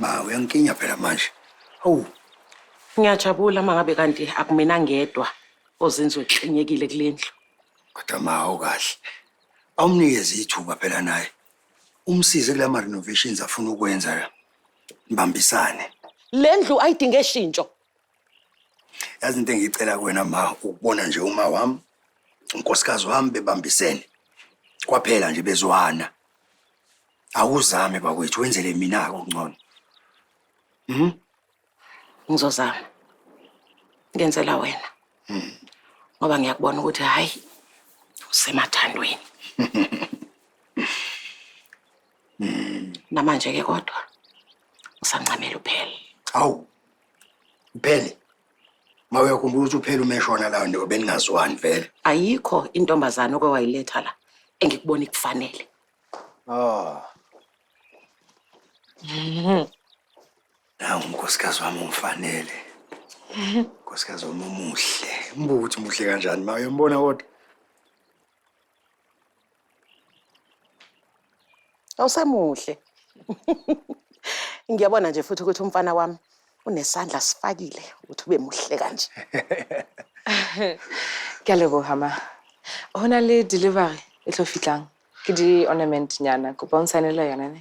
Ma uyangikinya phela manje. Hawu. Ngiyajabula mangabe kanti akumina ngedwa ozinzwe kuxenyekile kulendlu. Kodwa ma awukahle. Awumnikeze ithuba phela naye. Umsize kula ma renovations afuna ukwenza la. Nibambisane. Lendlu ayidinge shintsho. Yazi into engiyicela kuwena ma ukubona nje uma wami unkosikazi wami bebambisene. Kwaphela nje bezwana. Awuzame bakwethu wenzele mina ke ungcono. Mhm. Ngizozama. Ngenzela wena. Mhm. Ngoba ngiyakubona ukuthi hayi usemathandweni. Mhm. Namanje ke kodwa usancamela uphele. Awu. Uphele. Mawuyakhumbula ukuthi uphele umeshona la ndobe ningaziwani vele. Ayikho intombazana okwayiletha la engikubona ikufanele. Oh. Nawu unkosikazi wami ungifanele. Unkosikazi wami umuhle. Umbuka ukuthi muhle kanjani ma uyombona kodwa. Awusemuhle. Ngiyabona nje futhi ukuthi umfana wami unesandla sifakile ukuthi ube muhle kanje. Ke a leboga ma. Ho na le delivery e tlo fitlang. ke di-ornament nyana kopa o nsaenele yona ne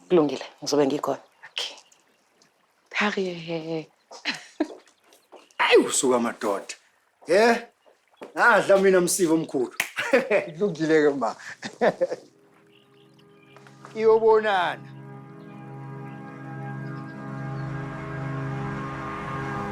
kulungile ngizobe ngikhona okay harriet ayi usuka madoda ye ngadla mina msiva omkhulu kulungile-ke ma iyobonana